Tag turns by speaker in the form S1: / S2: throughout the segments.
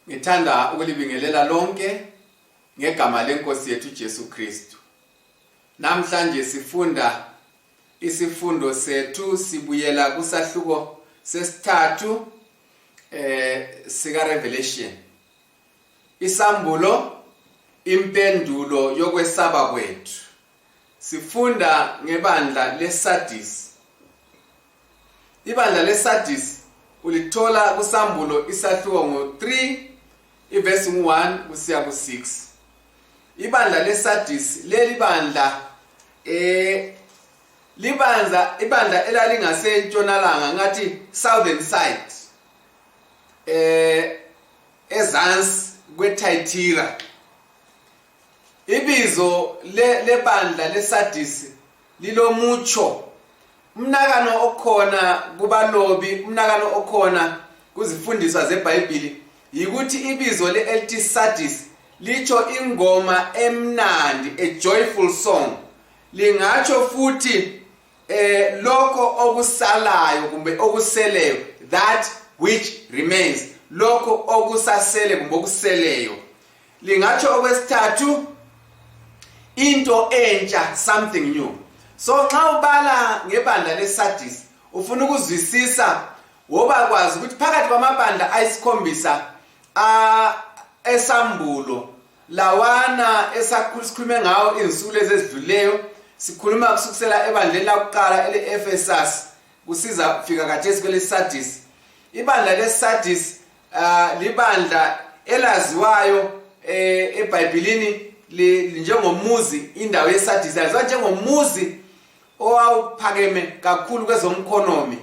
S1: Ngithanda ukulibingelela lonke ngegama lenkosi yethu Jesu Kristu. Namhlanje sifunda isifundo sethu sibuyela kusahluko sesithathu eh sika Revelation. Isambulo impendulo yokwesaba kwethu. Sifunda ngebandla leSardis. ibandla lesadisi ulithola kusambulo isahluko ngo-3 ivesi ngu-1 kusiya ku-6 ibandla lesadisi leli bandla eh libandla ibandla elalingase-ntshonalanga ngathi southern side eh ezansi kwethayithira ibizo lebandla lesadisi lilomutsho umnakano okhona kubalobi umnakano okhona kuzifundiswa zebhayibhili yikuthi ibizo le-lt sadis litsho ingoma emnandi a joyful song lingatsho futhi eh lokho okusalayo kumbe okuseleyo that which remains lokho okusasele kumbe okuseleyo lingatsho okwesithathu into entsha something new so nxa ubala ngebandla lesadis ufuna ukuzwisisa woba kwazi ukuthi phakathi kwamabandla ayisikhombisa esambulo lawana esikhulume ngawo izinsuku lezi ezidluleyo sikhuluma kusukusela ebandleni lakuqala ele-efesas kusiza fika kathesi kwelesadis ibandla lesadis uh, libandla elaziwayo eh, ebhayibhilini njengomuzi indawo yesadisi laziwa njengomuzi owawuphakeme kakhulu kwezomkhonomi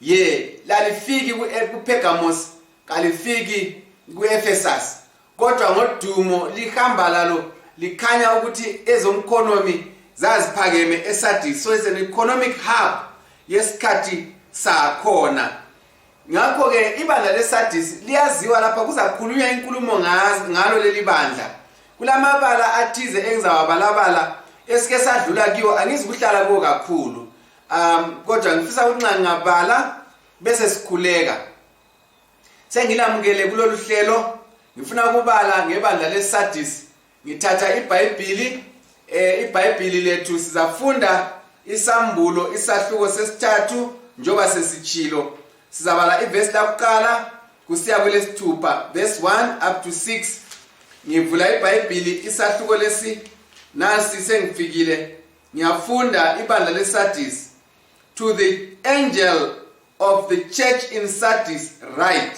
S1: ye lalifiki eh, kupergamos kalifiki kuefesus kodwa ngodumo lihamba lalo likhanya ukuthi ezomkhonomi zaziphakeme esadisi so is an economic hub yesikhathi sakhona ngakho-ke ibandla lesadisi liyaziwa lapha kuzakhulunywa inkulumo ngalo leli bandla kulamabala athize engizawabalabala esike sadlula kiwo angizi kuhlala kuwo kakhulu um kodwa ngifisa ukuthi nxa ngingabala bese sikhuleka sengilamukele kulolu hlelo ngifuna ukubala ngebandla lesadisi ngithatha ibhayibhili eh ibhayibhili lethu sizafunda isambulo isahluko sesithathu njoba sesichilo sizabala iverse lakuqala kusiya kwelesithupha verse 1 up to 6 ngivula ibhayibhili isahluko lesi nasi sengifikile ngiyafunda ibandla lesardis to the angel of the church in sardis right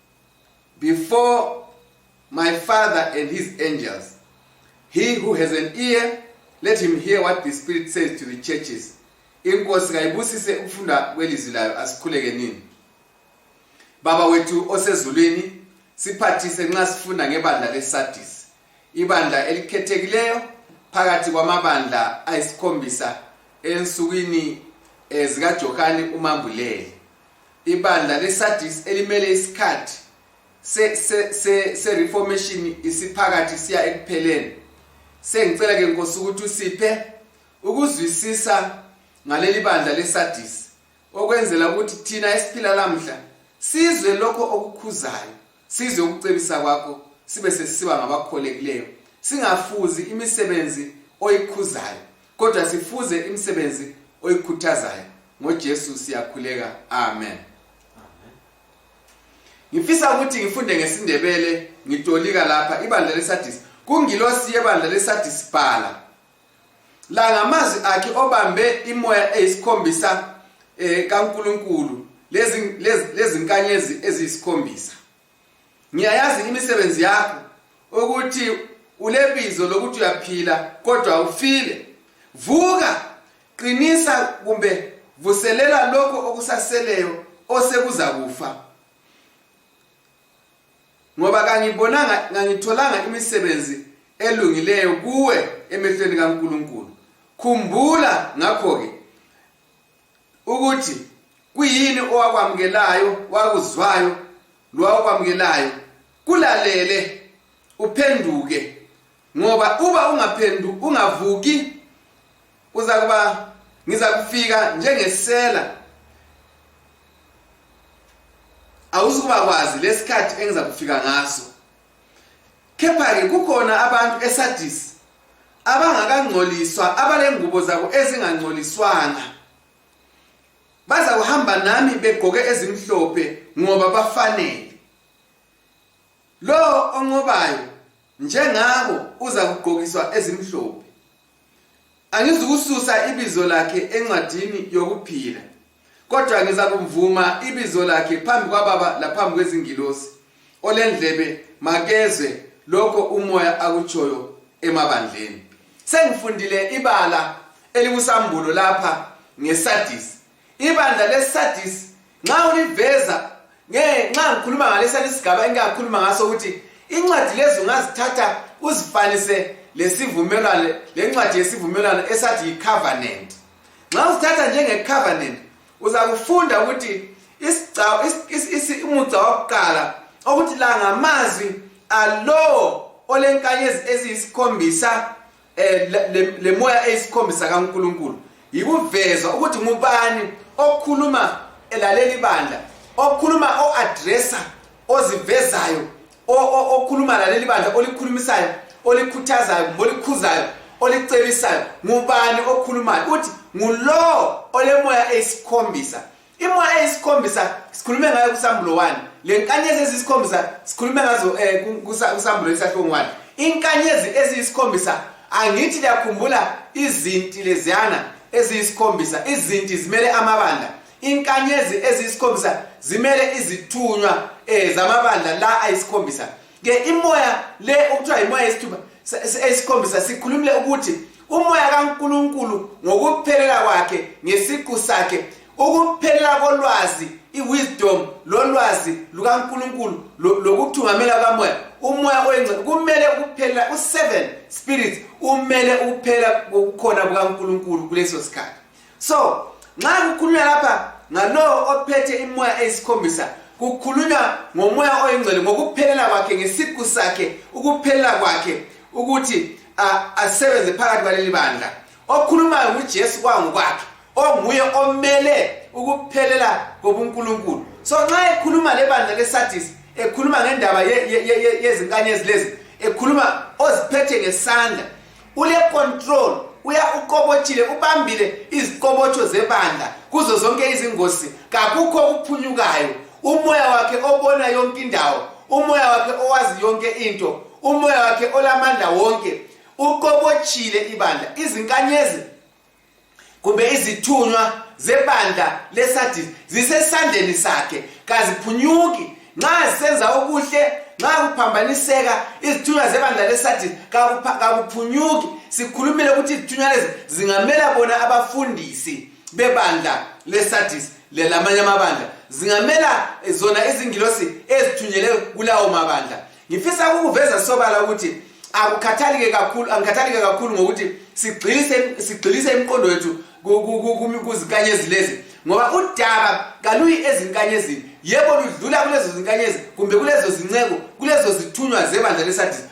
S1: before my Father and his angels. He who has an ear, let him hear what the Spirit says to the churches. inkosi kayibusise ukufunda kwelizwi layo asikhuleke nini baba wethu osezulwini siphathise nxa sifunda ngebandla lesadis ibandla elikhethekileyo phakathi kwamabandla ayisikhombisa ensukwini eh, zikajohane umambuleli ibandla lesadis elimele isikhathi se-reformation se, se, se isiphakathi siya ekupheleni sengicela ke nkosi ukuthi usiphe ukuzwisisa ngaleli bandla lesadis okwenzela ukuthi thina esiphila lamhla sizwe lokho okukhuzayo Size ukucebisa kwakho sibe sesiba ngabakholekileyo singafuzi imisebenzi oyikhuzayo kodwa sifuze imisebenzi oyikhuthazayo ngoJesu siyakhuleka amen Ngifisa ukuthi ngifunde ngesindebele ngitolika lapha ibandla leSadis kungilosi yebandla leSadis bhala la ngamazwi akhe obambe imoya eyisikhombisa eh kaNkuluNkulu lezi lezinkanyezi eziyisikhombisa ngiyayazi imisebenzi yakho ukuthi ulebizo lokuthi uyaphila kodwa ufile vuka qinisa kumbe vuselela lokho okusaseleyo osekuzakufa ngoba kangibonanga ngangitholanga imisebenzi elungileyo kuwe emehlweni kaNkuluNkulu khumbula ngakho ke ukuthi kuyini owakwamukelayo wakuzwayo lowakwamukelayo kulalele uphenduke ngoba uba ungaphendu ungavuki uzakuba ngizakufika njengesela awuzukuba kwazi lesikhathi engizakufika ngaso kepha-ke kukhona abantu esadisi abangakangcoliswa abalengubo zabo ezingangcoliswanga baza kuhamba nami begqoke ezimhlophe ngoba bafanele lowo onqobayo njengabo uzakugqokiswa ezimhlophe angizukususa ibizo lakhe encwadini yokuphila kodwa ngizakumvuma ibizo lakhe phambi kwababa laphambi kwezingilosi olendlebe makezwe lokho umoya akutshoyo emabandleni sengifundile ibala elikusambulo lapha ngesadisi ibandla lesadis nxa uliveza nxa ngikhuluma ngalesana isigaba engingakhuluma ngaso ukuthi incwadi lezi ungazithatha uzifanise lesivumelwano lencwadi yesivumelwano esathi yicovenant nxa uzithatha njengecovenant uzakufunda ukuthi umugca wakuqala okuthi la ngamazwi alowo olenkanyezi eziyisikhombisa eh, le moya eyisikhombisa kaNkulunkulu yikuvezwa ukuthi ngubani okhuluma elalela ibandla okhuluma o-adressa ozivezayo okhuluma laleli bandla olikhulumisayo olikhuthazayo kumbe olikhuzayo olicebisayo ngubani okhulumayo uthi ngulowo olemoya eyisikhombisa imoya eyisikhombisa sikhulume ngayo kusambulo 1 le nkanyezi ezisikhombisa sikhulume ngazo um kusambulo isahlungu 1 inkanyezi eziyisikhombisa angithi liyakhumbula izinti leziyana eziyisikhombisa izinti zimele amabandla inkanyezi eziyisikhombisa zimele izithunywa um zamabandla la ayisikhombisa ke imoya le okuthiwa yimoya yesithuba esikhombisa sikhulumile ukuthi umoya kaNkuluNkulu ngokuphelela kwakhe ngesiqu sakhe ukuphelela kolwazi iwisdom lolwazi lukaNkuluNkulu lokuthungamela kamoya umoya oyingcwe kumele ukuphelela u7 spirits umele ukuphelela kokukhona kukaNkuluNkulu kuleso sikhathi so nxa kukhulunywa lapha ngalowo ophethe imoya eyisikhombisa kukhulunywa ngomoya oyingcwele ngokuphelela kwakhe ngesiqu sakhe ukuphelela kwakhe ukuthi asebenze phakathi kwaleli bandla okhulumayo ngujesu kwangokwakhe onguye omele ukuphelela kobunkulunkulu so nxa ekhuluma lebandla lesadis ekhuluma ngendaba yezinkanyezi lezi ekhuluma oziphethe ngesandla ule control uya uqobotshile ubambile iziqobotsho zebandla kuzo zonke izingozi kakukho okuphunyukayo umoya wakhe obona yonke indawo umoya wakhe owazi yonke into umoya wakhe olamandla wonke uqobotshile ibandla izinkanyezi kumbe izithunywa zebandla lesadis zisesandleni sakhe kaziphunyuki nxa zisenza okuhle nxa kuphambaniseka izithunywa zebandla lesadis kakuphunyuki sikhulumile ukuthi izithunywa lezi zingamela bona abafundisi bebandla lesadis lelamanye amabandla zingamela zona izingilosi ezithunyele kulawo mabandla ngifisa ukuveza sobala ukuthi akukhathalike kakhulu angikhathalike kakhulu ngokuthi sigxilise sigxilise imiqondo yethu kuzinkanyezi lezi ngoba udaba kaluyi ezinkanyezini yebo ludlula kulezo zinkanyezi kumbe kulezo zinceku kulezo zithunywa zebandla lesadisi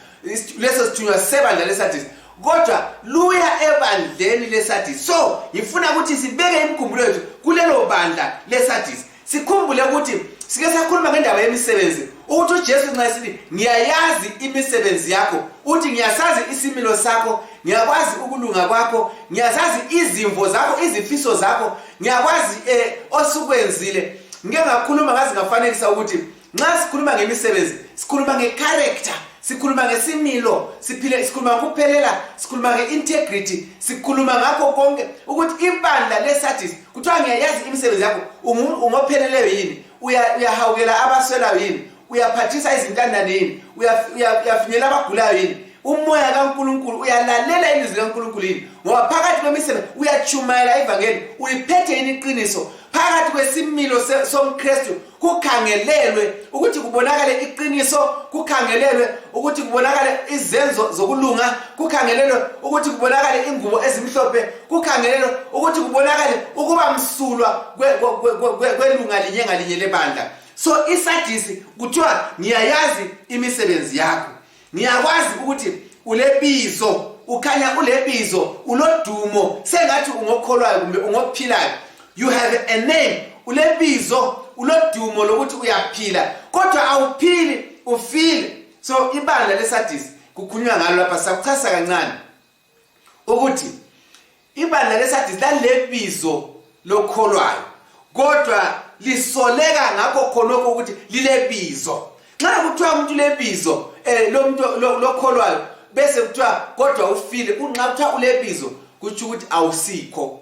S1: leso sithunywa sebandla lesadisi kodwa luya ebandleni lesadisi so ngifuna ukuthi sibeke imikhumbulo yethu kulelo bandla lesadisi sikhumbule ukuthi sike sakhuluma ngendaba yemisebenzi ukuthi ujesu nxa esithi ngiyayazi imisebenzi yakho uthi ngiyasazi isimilo sakho ngiyakwazi ukulunga kwakho ngiyazazi izimvo zakho izifiso zakho ngiyakwazi um osukwenzile ngike ngakhuluma ngazi ngafanekisa ukuthi nxa sikhuluma ngemisebenzi sikhuluma ngecharacter sikhuluma ngesimilo siphile sikhuluma ngokuphelela sikhuluma nge-integrity sikhuluma ngakho konke ukuthi ibandla lesadis kuthiwa ngiyayazi imisebenzi yakho ungopheleleyo yini uyahawukela abaswelayo yini uyaphathisa izintandane yini uyafinyela abagulayo yini umoya kaNkuluNkulu uyalalela ilizwi likaNkuluNkulu yini ngoba phakathi kwemisebe uyachumayela ivangeli uyiphethe yini iqiniso phakathi kwesimilo somKristu kukhangelelwe ukuthi kubonakale iqiniso kukhangelelwe ukuthi kubonakale izenzo zokulunga kukhangelelwe ukuthi kubonakale ingubo ezimhlophe kukhangelelwe ukuthi kubonakale ukuba msulwa kwelunga linye ngalinye lebandla so isadisi kuthiwa ngiyayazi imisebenzi yakho ngiyakwazi ukuthi ulebizo ukhanya ulebizo ulodumo sengathi ungokholwayo kumbe ungophilayo you have a name ulebizo ulodumo lokuthi uyaphila kodwa awuphili ufile so ibandla lesadisi kukhulunywa ngalo lapha sakuchasa kancane ukuthi ibandla lesadisi lalebizo lokholwayo kodwa lisoleka ngakho khonokho ukuthi lilebizo nxa kuthiwa umuntu lebizo um eh, lomuntu lokholwayo bese kuthiwa kodwa ufile kunxa kuthiwa ulebizo kutsho ukuthi awusikho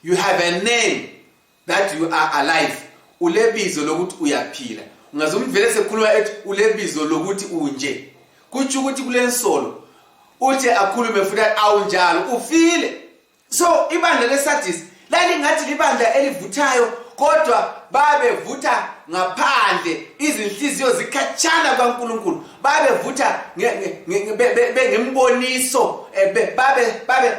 S1: you have a name that you are alive ulebizo lokuthi uyaphila ungaze umvele sekhuluma ethi ulebizo lokuthi unje kutsho ukuthi kulensolo uthi akhulume futhi awunjalo ufile so ibandla lesadis lalingathi libandla elivuthayo kodwa babevutha ngaphandle izinhliziyo zikhatshana kwankulunkulu babevutha bengemboniso eh,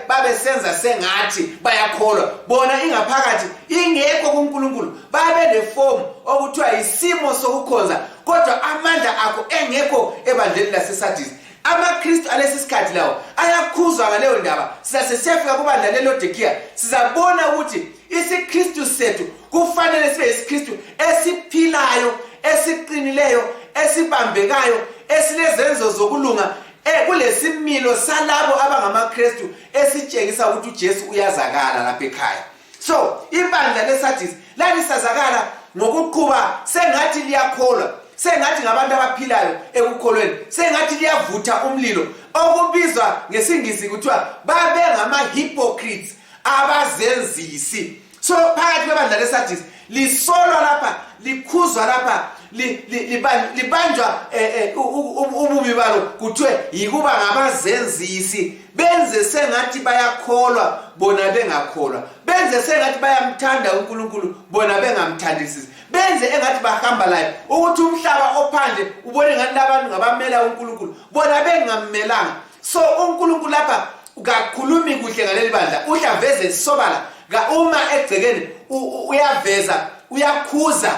S1: babesenza sengathi bayakholwa bona ingaphakathi ingekho kunkulunkulu babelefomu okuthiwa yisimo sokukhonza kodwa amandla akho engekho ebandleni lasesadisi amakristu alesi sikhathi lawo ayakhuzwa ngaleyo ndaba sisasesiyafika kubandla lelodekiya sizabona ukuthi isiKristu sethu kufanele sibe isiKristu esiphilayo esiqinileyo esibambekayo esilezenzo zokulunga eh kulesimilo salabo abangamaKristu esitshengisa ukuthi uJesu uyazakala lapha ekhaya so ibandla leSardis lalisazakala ngokuqhuba sengathi liyakholwa sengathi ngabantu abaphilayo ekukholweni sengathi liyavutha umlilo okubizwa ngesingisi kuthiwa babengama-hypocrites abazenzisi so phakathi kwebandla lesadis lisolwa lapha likhuzwa lapha libanjwa eh, eh, ububi balo kuthiwe yikuba ngabazenzisi benze sengathi bayakholwa bona bengakholwa benze sengathi bayamthanda unkulunkulu bona bengamthandisisi benze engathi bahamba layo ukuthi umhlaba ophandle ubone ngathi labantu ngabamela unkulunkulu bona bengammelanga so unkulunkulu lapha kakhulumi kuhle ngaleli bandla uhle aveze isobala uma egcekeni uyaveza uyakhuza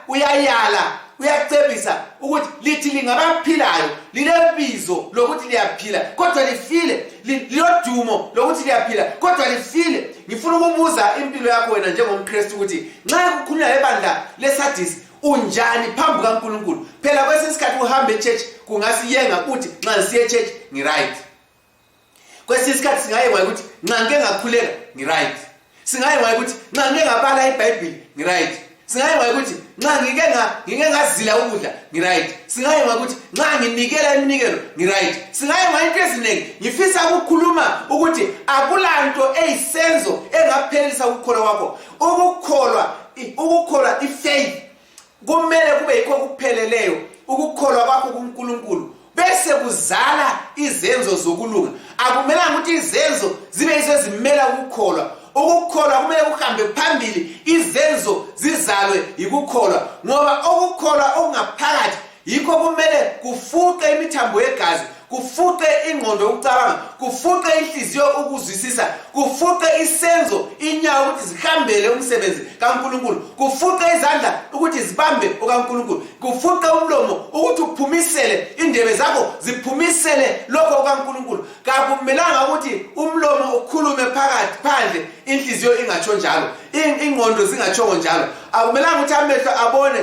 S1: uyayala uyacebisa ukuthi lithi lingabaphilayo lilebizo lokuthi liyaphila kodwa lifile lilodumo lokuthi liyaphila kodwa lifile ngifuna ukubuza impilo yakho wena njengomkristu ukuthi nxa kukhulunywa ngebandla lesadisi unjani phambi kankulunkulu phela kwesinye isikhathi uhamba echurch kungasiyenga uthi nxa ngisiye echurch ngiright kwesinye isikhathi singaye kwaye ukuthi nxa ngike ngakhuleka ngiright singaye kwaye ukuthi nxa ngike ngabala ibhayibhili ngiright singaye kwaye ukuthi nxa ngike ngike ngazila ukudla ngiright singaye kwaye ukuthi nxa nginikela iminikelo ngiright singaye kwaye into eziningi ngifisa ukukhuluma ukuthi akulanto eyisenzo engaphelelisa ukukholwa kwakho ukukholwa ukukholwa ifaith kumele kube yikho okupheleleyo ukukholwa kwakho kunkulunkulu bese kuzala izenzo zokulunga akumelanga ukuthi izenzo zibe yizo ezimela ukukholwa ukukholwa kumele kuhambe phambili izenzo zizalwe yikukholwa ngoba ukukholwa okungaphakathi yikho kumele kufuqe imithambo yegazi kufuqe ingqondo yokucabanga kufuqe inhliziyo ukuzwisisa kufuqe isenzo inyawo ukuthi zihambele umsebenzi kankulunkulu kufuqe izandla ukuthi zibambe okankulunkulu kufuqe umlomo ukuthi uphumisele indebe zakho ziphumisele lokho okankulunkulu kakumelanga ukuthi umlomo ukhulume phakathi phandle inhliziyo ingatsho njalo ingqondo zingatshongo njalo akumelanga ukuthi amehlo abone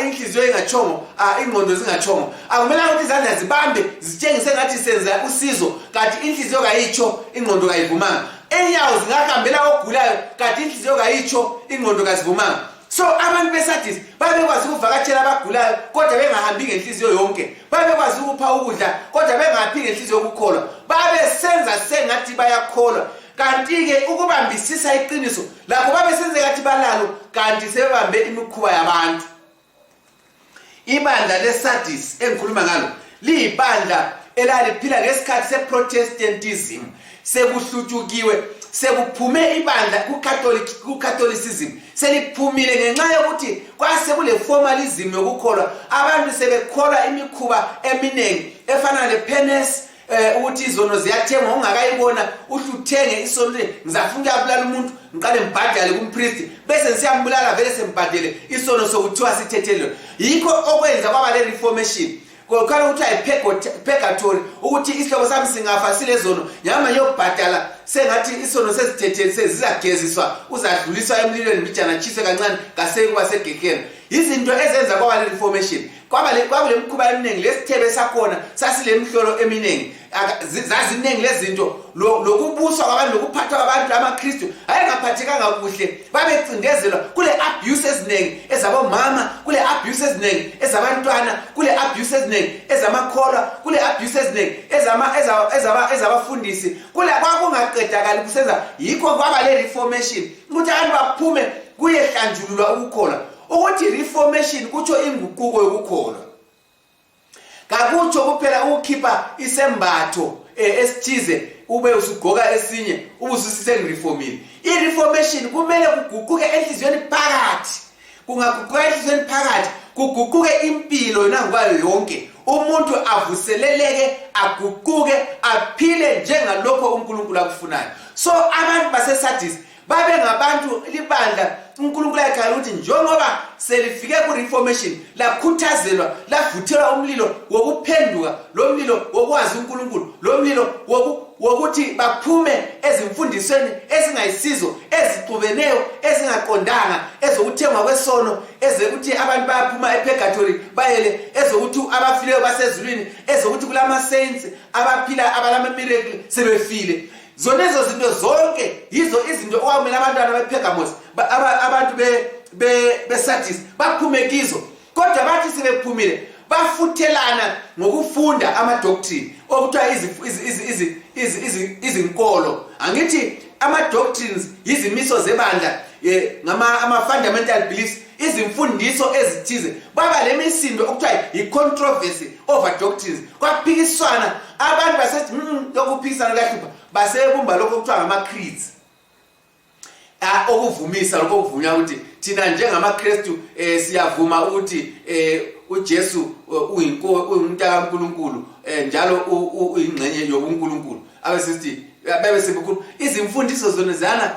S1: inhliziyo ingatshongo ingqondo zingatshongo akumelanga ukuthi izandla zibambe zitshengise ngathi senza usizo kanti inhliziyo kayitsho ingqondo kayivumanga enyawo zingahambela ogulayo kanti inhliziyo kayitsho ingqondo kazivumanga so abantu besadis babekwazi ukuvakatshela abagulayo kodwa bengahambi ngenhliziyo yonke babekwazi ukupha ukudla kodwa bengaphi ngenhliziyo yokukholwa babesenza sengathi bayakholwa kanti-ke ukubambisisa iqiniso lakho babesenze kathi balalo kanti sebebambe imikhuba yabantu ibandla lesadis engikhuluma ngalo liyibandla elaliphila ngesikhathi seprotestantism sekuhlutshukiwe sekuphume ibandla kucatholicism seliphumile ngenxa yokuthi kwase kuleformalism yokukholwa abantu sebekholwa imikhuba eminingi efana lepenes eh ukuthi izono ziyathengwa ungakayibona uhle uthenge isono ukuthi ngizafuna ukuyabulala umuntu ngiqale ngibhadale kumpristi bese ngisiyambulala vele sengibhadele isono sokuthiwa sithethelelwe yikho okwenza kwaba le reformation kokhala ukuthi ayipurgatory ukuthi isihloko sami singafa silezono nyama yokubhadala sengathi isono sezithetheli sezizageziswa uzadluliswa emlilweni mbijana tshiswe kancane kaseyikuba segegeni yizinto ezenza kwaba le reformation kwakulemkhuba eminingi lesithebe sakhona sasilemhlolo eminingi zaziningi lezinto lokubuswa kwabantu lokuphathwa kwabantu amakristu ayengaphathekanga kuhle babecindezelwa kule abuse eziningi ezabomama kule abuse eziningi ezabantwana kule abuse eziningi ezamakholwa kule abuse eziningi ezabafundisi kule kwakungaqedakali kusenza yikho kwaba le reformation ukuthi abantu baphume kuyehlanjululwa ukukholwa ukuthi reformation kutsho inguquko yokukholwa kakutsho kuphela ukukhipha isembatho eh, esithize ube usugqoka esinye ube ususisengireformile ireformation kumele kuguquke enhliziyweni phakathi kungaguquka enhliziyweni phakathi kuguquke impilo yona ngokwayo yonke umuntu avuseleleke aguquke aphile njengalokho unkulunkulu akufunayo so abantu basesadisi babe ngabantu libandla unkulunkulu ayekhala ukuthi njengoba selifike kureformation lakhuthazelwa lavuthelwa umlilo wokuphenduka lo mlilo wokwazi unkulunkulu lo mlilo wokuthi baphume ezimfundisweni ezingayisizo ezixubeneyo ezingaqondanga ezokuthengwa kwesono ezokuthi abantu bayaphuma epurgatory bayele ezokuthi abafileyo basezulwini ezokuthi kulama-saints abaphila abalamamiracle sebefile zonezo zinto zonke yizo izinto okwamele abantwana bepergamos abantu besardis baphume kizo kodwa bathi sebephumile bafuthelana ngokufunda amadoctrine okuthiwa izinkolo angithi ama-doctrines yizimiso zebandla um eh, ama-fundamental beliefs izimfundiso ezithize baba lemisindo okuthiwa yi-controversy over doctrines kwaphikiswana abantu basethi mm, lokhu kuphikisana kuyahlupha basebumba lokhu okuthiwa ngama-creeds ah, okuvumisa lokhu okuvunywa ukuthi thina njengamakristu eh, siyavuma ukuthi eh, ujesu eh, uyintankulunkulu eh, njalo uyingxenye yobunkulunkulu abesesithi bebe sebukhulu izimfundiso zona zana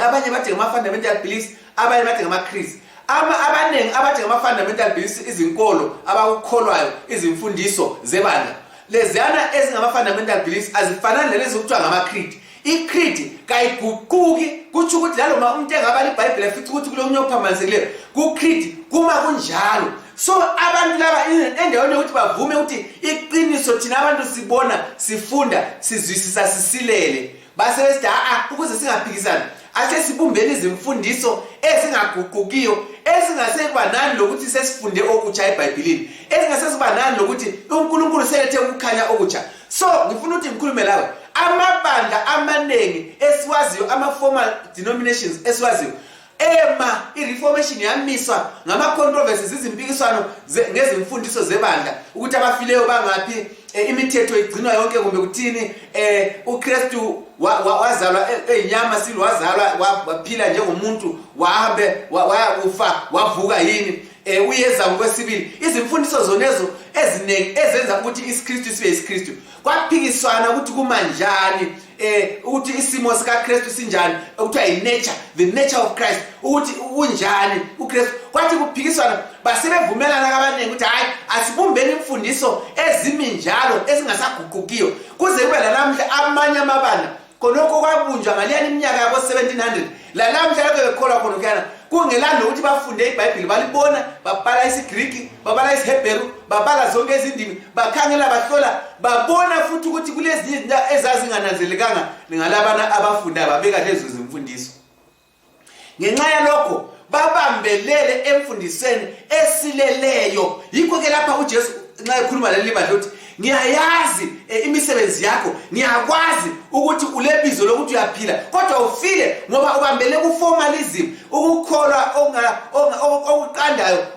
S1: abanye bathi ngama-fundamental beliefs abanye bathi ngamakhristi abaningi abathi ngama-fundamental beliefs izinkolo abakukholwayo izimfundiso zebandla leziyana ezingama-fundamental beliefs azifanani lelezi okuthiwa ngama-creed i-creed kayiguquki kutsho ukuthi lalo ma umuntu engabala ibhayibhile futhi ukuthi kulo munye okuphambanisekileyo ku-creed kuma kunjalo so abantu laba endaweni yokuthi bavume ukuthi iqiniso thina abantu sibona sifunda sizwisisa sisilele basebesithi haa ukuze singaphikisani asesibumbeni izimfundiso ezingaguqukiyo ezingasekuba nani lokuthi sesifunde okutsha ebhayibhilini ezingasesiba nani lokuthi unkulunkulu selethe ukukhanya okutsha so ngifuna ukuthi ngikhulume lawe amabandla amaningi esiwaziyo ama-formal denominations esiwaziyo ema ireformation yamiswa ngamacontroversies izimpikiswano ngezimfundiso zebandla ukuthi abafileyo bangaphi e, imithetho igcinwa yonke kumbe kuthini e, ukristu wazalwa e, eyinyama silo wazalwa waphila njengomuntu wahambe wayakufa wavuka yini e, uyeza ngokwesibili izimfundiso zonezo eziningi ezenza ukuthi isikristu sibe yisikristu kwaphikiswana ukuthi kumanjani eh ukuthi isimo sika Christ sinjani ukuthi ay nature the nature of Christ ukuthi unjani uChrist kwathi kuphikiswana basebevumelana kabaningi ukuthi hayi asibumbeni imfundiso ezimi njalo ezingasaguqukiyo kuze kube lalamhla amanye amabana khonokho kwabunjwa ngaleyani iminyaka yabo-1700 lalamhla lokho bekholwa khona kuyana kungelanda ukuthi bafunde ibhayibhili balibona babala isigriki babala isiheberu babala zonke izindimi bakhangela bahlola babona futhi ukuthi kulezinye izinto ezazingananzelekanga ngalabana abafundayo babeka lezo zimfundiso ngenxa yalokho babambelele emfundisweni esileleyo yikho ke lapha ujesu nxa ekhuluma leli bandla uthi ngiyayazi e, imisebenzi yakho ngiyakwazi ukuthi ulebizo lokuthi uyaphila kodwa ufile ngoba ubambele kuformalism ukukholwa okuqandayo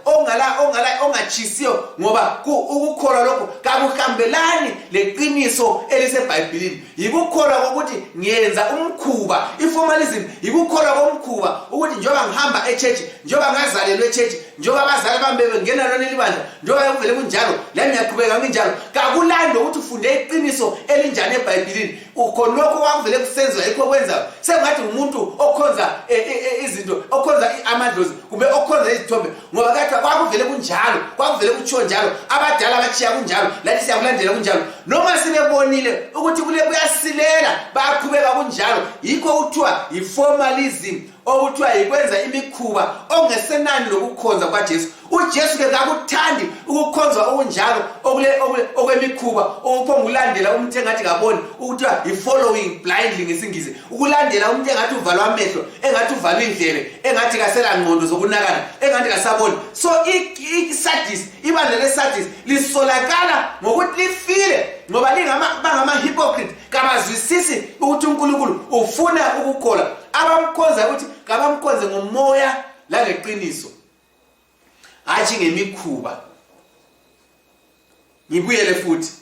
S1: ongatshisiyo ngoba ukukholwa lokho kakuhambelani leqiniso elisebhayibhilini yikukholwa kokuthi ngiyenza umkhuba i-formalism yikukholwa komkhuba ukuthi njengoba ngihamba echurch njengoba ngazalelwa echurch njengoba abazali bami bebengena lona elibandla njengoba bekuvele kunjalo lami ngiyaqhubeka nginjalo kakulani lokuthi ufunde iqiniso elinjani ebhayibhilini khonokho kwakuvele kusenziwa yikho okwenzayo sengathi ngumuntu okhonza e, e, e, izinto okhonza amadlozi kumbe okhonza izithombe ngoba kade kwakuvele kunjalo kwakuvele kutshiwo njalo abadala batshiya kunjalo lathi siyakulandela kunjalo noma sibebonile ukuthi kule kuyasilela bayaqhubeka kunjalo yikho kuthiwa yi-formalism okuthiwa yikwenza imikhuba ongesenani lokukhonza kwajesu ujesu ke kakuthandi ukukhonza okunjalo okwemikhuba okuphongulandela umuntu engathi kaboni ukuthiwa yi-following blindly ngesingizi ukulandela umuntu engathi uvalwa amehlo engathi uvalwa indlebe engathi kasela ngqondo zokunakana engathi kasaboni so isadis ibandla lesadis lisolakala ngokuthi lifile ngoba bangamahypocrite kabazwisisi ukuthi unkulunkulu ufuna ukukhola abamkhonza ukuthi kabamkhonze ngomoya langeqiniso hatshi ngemikhuba ngibuyele futhi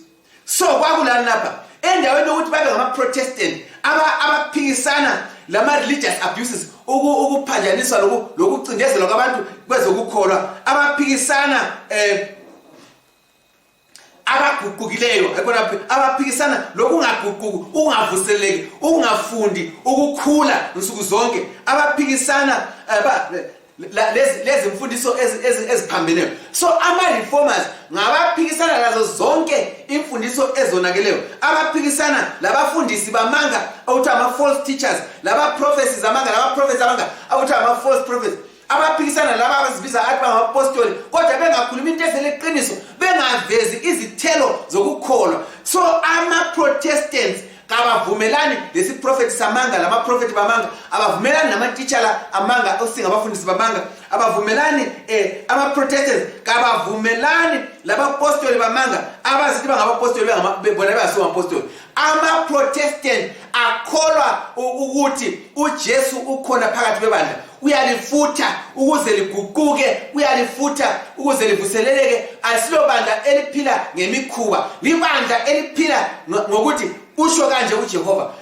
S1: so kwakulani lapha endaweni yokuthi babe ngamaprotestant abaphikisana aba lama-religious abuses ukuphanjaniswa lokucindezelwa kwabantu kwezokukholwa abaphikisana um abaguqukileyo abaphikisana lokungaguquki ukungavuseleki ukungafundi ukukhula nsuku zonke abaphikisana eh, lezimfundiso eziphambeneyo so ama-reformers ngabaphikisana lazo zonke imfundiso ezonakeleyo abaphikisana labafundisi bamanga okuthiwa ama-false teachers laba-prophecies amanga laba-prophecy amanga okuthiwa ama-false prophecy abaphikisana laba abazibiza athi bangabapostoli kodwa bengakhulumi into evele iqiniso bengavezi izithelo zokukholwa so ama-protestants kabavumelani lesiprofethi samanga lamaprofethi bamanga abavumelani namatitshala amanga osinga abafundisi bamanga abavumelani eh, amaprotestants kabavumelani labapostoli bamanga abazithi bangabapostoli bona bengasiwo mapostoli amaprotestant akholwa ukuthi ujesu ukhona phakathi kwebandla uyalifutha ukuze liguquke uyalifutha ukuze livuseleleke asilo bandla eliphila ngemikhuba libandla eliphila ngokuthi usho kanje ujehova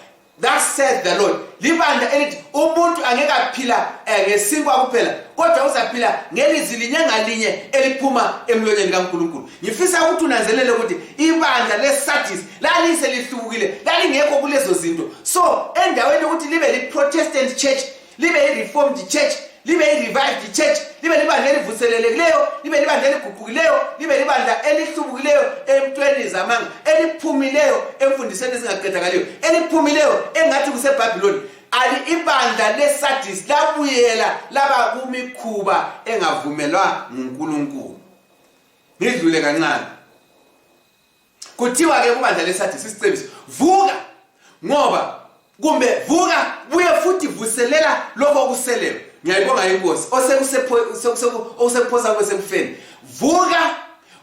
S1: that says the lord libandla elithi umuntu angeke aphila eh, ngesinkwa kuphela kodwa uzaphila ngelizwi linye ngalinye eliphuma emlonyeni kankulunkulu ngifisa ukuthi unanzelele ukuthi ibandla lesadis lalise lihlukile lalingekho kulezo zinto so endaweni yokuthi libe liprotestant church libe ireformed church libe irevived church libe libandla elivuselelekileyo libe libandla eliguqukileyo libe libandla elihlubukileyo emntweni zamanga eliphumileyo emfundisweni ezingaqedakaliyo eliphumileyo engathi kusebhabhiloni ali ibandla lesadis labuyela laba kumikhuba engavumelwa ngunkulunkulu ngidlule kancane kuthiwa ke kubandla lesathi sisicebiso vuka ngoba kumbe vuka buye futhi vuselela lokho okuseleyo ngiyayibonga inkosi osekuphosa kwesekufeni vuka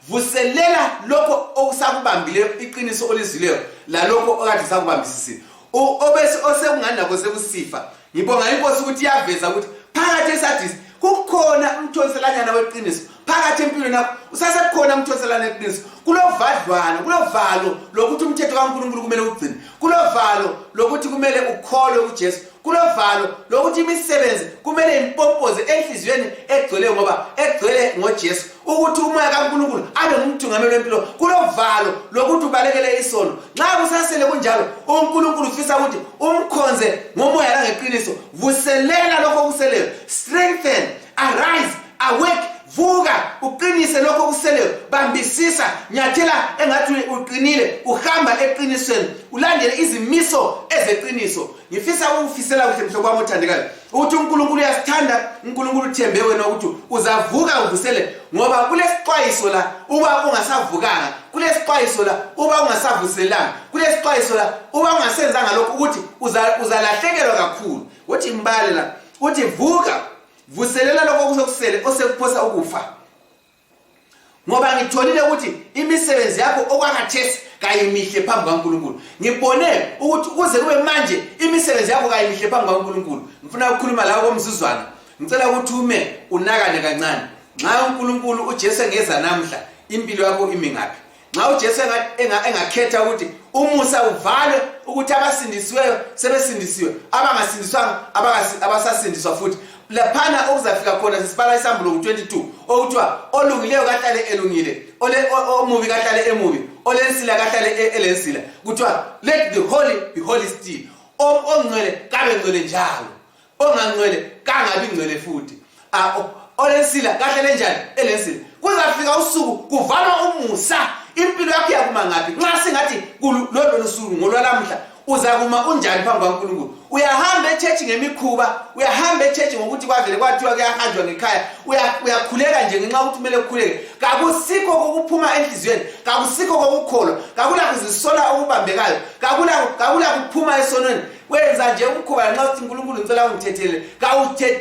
S1: vuselela lokho okusakubambileyo iqiniso olizwileyo lalokho okade sakubambisisile obese osekunganako sekusifa ngibonga inkosi ukuthi iyaveza ukuthi phakathi esadisi kukhona umthonselanyana weqiniso phakathi empilweni yakho usasekukhona umthonselana eqiniso kulovadlwana kulovalo lokuthi umthetho kankulunkulu kumele ugcine kulovalo lokuthi kumele ukholwe ujesu kulovalo lokuthi imisebenzi kumele impompoze enhliziyweni egcweleyo ngoba egcwele ngojesu ukuthi umoya kaNkulunkulu abe ngumthungameli wempilo kulovalo lokuthi ubalekele isono nxa kusasele kunjalo uNkulunkulu ufisa ukuthi umkhonze ngomoya langeqiniso vuselela lokho okuseleyo strengthen arise awake vuka uqinise lokho okuseleyo bambisisa nyathela engathi uqinile uhamba eqinisweni ulandele izimiso ezeqiniso ngifisa ukufisela kuhle mhlobo wami othandekayo ukuthi uNkulunkulu uyasithanda uNkulunkulu uthembe wena ukuthi uzavuka uvusele ngoba kulesixwayiso la uba ungasavukanga kulesixwayiso la uba ungasavuselanga kulesixwayiso la uba ungasenzanga lokho ukuthi uzalahlekelwa kakhulu wothi imbali la uthi vuka vuselela lokho okusekusele osekuphosa ukufa ngoba ngitholile ukuthi imisebenzi yakho okwakathesi kayimihle phambi kwaNkulunkulu ngibone ukuthi kuze kube manje imisebenzi yakho kayimihle phambi kwaNkulunkulu ngifuna ukukhuluma lawo komzuzwana ngicela ukuthi ume unakane kancane nxa uNkulunkulu uJesu engeza namhla impilo yakho imi ngaphi nxa ujesu engakhetha ukuthi umusa uvalwe ukuthi abasindisiweyo sebesindisiwe abangasindiswanga abasasindiswa futhi laphana okuzafika khona sesibala isambulo ku-22 okuthiwa olungileyo kahlale elungile omubi kahlale emubi olensila kahlale e, elensila kuthiwa let the holy be holy still ongcwele kabe ngcwele njalo ongangcwele kangabi ngcwele futhi olensila kahle lenjani elensila kuzafika usuku kuvalwa umusa impilo yakho yakuma ngaphi nxa singathi lolo lusuku ngolwalamhla uzakuma unjani phambi kwankulunkulu uyahamba echechi ngemikhuba uyahamba echechi ngokuthi kwavele kwathiwa kuyahanjwa ngekhaya uyakhuleka nje ngenxa ukuthi kumele ukhuleke kakusikho kokuphuma enhliziyweni kakusikho kokukholwa kakulakuzisola okubambekayo kakulakuphuma esonweni wenza nje umkhuba lanxa sithi nkulunkulu ngicela ungithethelele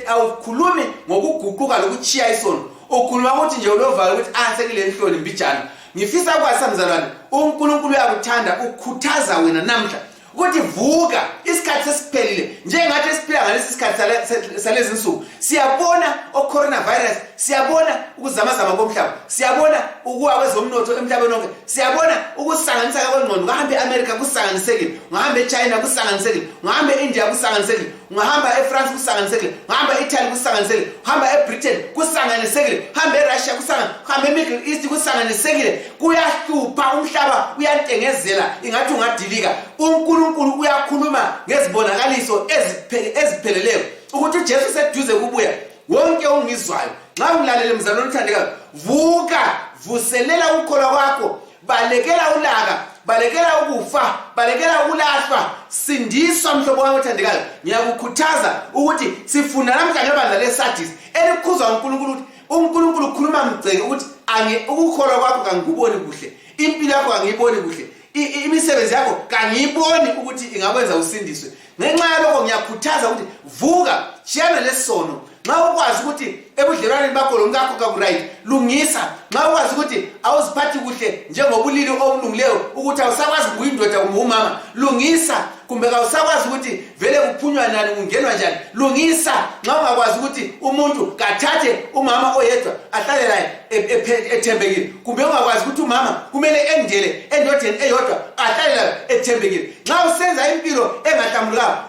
S1: awukhulumi ngokuguquka lokutshiya isono ukhuluma ukuthi nje ulovalo ukuthi ansekile ah, enhloni mbijana ngifisa ukwazisa mzalwane unkulunkulu uyakuthanda ukhuthaza wena namhla ukuthi vuka isikhathi sesiphelile njengathi esiphila ngalesi sikhathi salezi nsuku siyabona ocoronavirus siyabona ukuzamazama komhlaba siyabona ukuwa kwezomnotho emhlabeni onke siyabona ukusanganiseka kwengqondo ungahamba eamerica kusanganisekile ungahamba echina kusanganisekile ungahamba eindia kusanganisekile ungahamba efrance kusanganisekile ungahamba eitaly kusanganisekile uhamba ebritain kusanganisekile uhamba erussia uhamba emiddle east kusanganisekile kuyahlupha umhlaba uyantengezela ingathi ungadilika unkulunkulu uyakhuluma ngezibonakaliso ezipheleleyo ukuthi ujesu seduze kubuya wonke ongizwayo nxa ulalele mzalwane othandekayo vuka vuselela ukukholwa kwakho balekela ulaka balekela ukufa balekela ukulahlwa sindiswa mhlobo wami othandekayo ngiyakukhuthaza ukuthi sifunda namhla ngebandla lesadis elikhuzwa unkulunkulu ukuthi unkulunkulu ukhuluma mgceke ukuthi ukukholwa kwakho kangikuboni kuhle impilo yakho kangiyiboni kuhle imisebenzi yakho kangiyiboni ukuthi ingakwenza usindiswe ngenxa yalokho ngiyakhuthaza ukuthi vuka tshiyana lesono nxa ukwazi ukuthi ebudlelwaneni bakho lomkakho kakuright lungisa nxa ukwazi ukuthi awuziphathi kuhle njengobulili obulungileyo ukuthi awusakwazi kuyindoda kumbe umama lungisa kumbe kawusakwazi ukuthi vele kuphunywa nani kungenwa njani lungisa nxa ungakwazi ukuthi umuntu kathathe umama oyedwa ahlale laye e, e, ethembekile kumbe ungakwazi ukuthi umama kumele endele endodeni eyodwa ahlale layo ethembekile nxa usenza impilo engahlambulukanga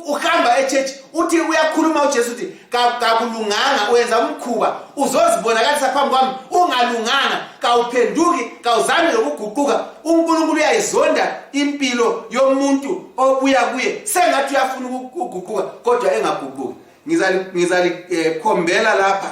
S1: uhamba echurch uthi uyakhuluma ujesu uthi kakulunganga uyenza umkhuba uzozibonakalisa phambi kwami ungalunganga kawuphenduki kawuzami lokuguquka unkulunkulu uyayizonda impilo yomuntu obuya kuye sengathi uyafuna ukuguquka kodwa engaguquki ngizalikhombela eh, lapha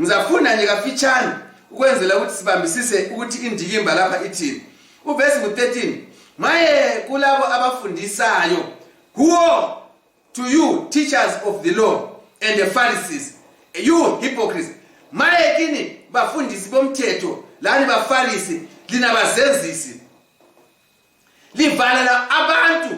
S1: ngizafuna nje kafitshane ukwenzela ukuthi sibambisise ukuthi indikimba lapha ithini uvesi ngu-13 maye kulabo abafundisayo huo to you teachers of the law and the pharisees you hypocrites maye kini bafundisi bomthetho lani bafarisi lina bazenzisi livalela abantu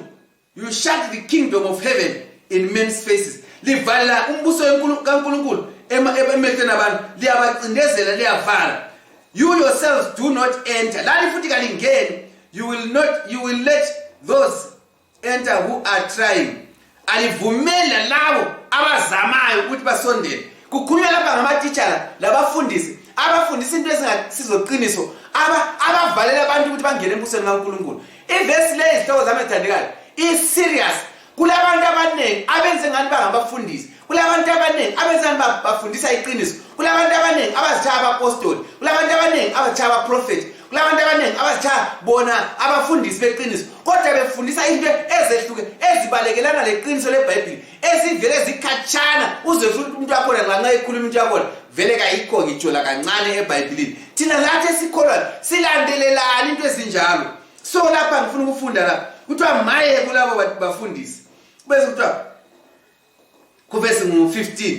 S1: You shut the kingdom of heaven in men's faces. Livala umbuso kaNkulunkulu emehlweni abantu liyabacindezela liyavala. You yourselves do not enter. Lani futhi kalingeni. You will not you will let those enter who are trying. Alivumela labo abazamayo ukuthi basondele. Kukhulunywa lapha ngamatitshala labafundisi abafundisa into ezingasizoqiniso abavalela abantu ukuthi bangene embusweni kaNkulunkulu ivesi leyi izihloko zami ethandekayo iserious kulabantu abaningi abenze ngani bangabafundisi kulabantu abaningi abenze ngani bafundisa iqiniso kulabantu abaningi abazitshaya abapostoli kulabantu abaningi abazitshaya abaprofethi kulabantu abaningi abazitshaya bona abafundisi beqiniso kodwa befundisa into ezehluke ezibalekelana leqiniso lebhayibhile ezivele zikhatshana uze futhi umuntu wakhona nxa nxa ekhuluma into yakhona vele kayikho ngitsho lakancane ebhayibhilini thina lathi esikholwayo silandelelani into ezinjalo so lapha ngifuna ukufunda la kuthiwa maye kulabo bafundisi bese kuthiwa kuvesi ngu-15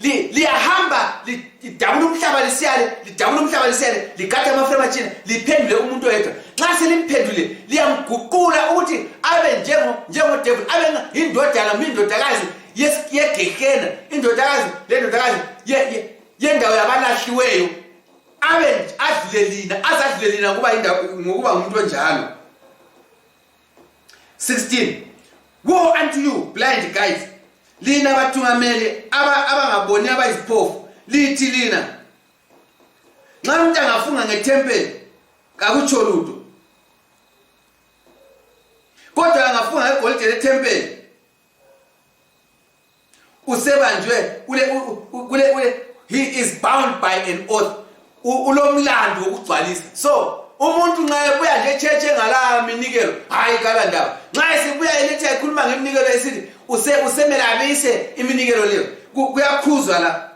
S1: liyahamba lidabula umhlaba lisiyale lidabula umhlaba lisiyale ligade amaframe atshina liphendule umuntu oyedwa nxa selimphendule liyamguqula ukuthi abe njengodevil abe yindodana kumbe indodakazi yegehena indodakazi lendodakazi yendawo yabalahliweyo abe adlule lina azadlule lina ngokuba ngumuntu onjalo 16 woe unto you blind guys lina bathungameli abangaboni aba abayiziphofu lithi lina nxa umuntu angafunga ngethempeli kakutsho lutho kodwa angafunga ngegolide lethempeli usebanjwe kule kule kule he is bound by an oath ulomlando wokugcwalisa so umuntu nxa ebuya nje echurch engala minikelo hayi kala ndaba nxa esibuya elithi ayikhuluma ngeminikelo esithi use usemele abise iminikelo leyo kuyakhuzwa la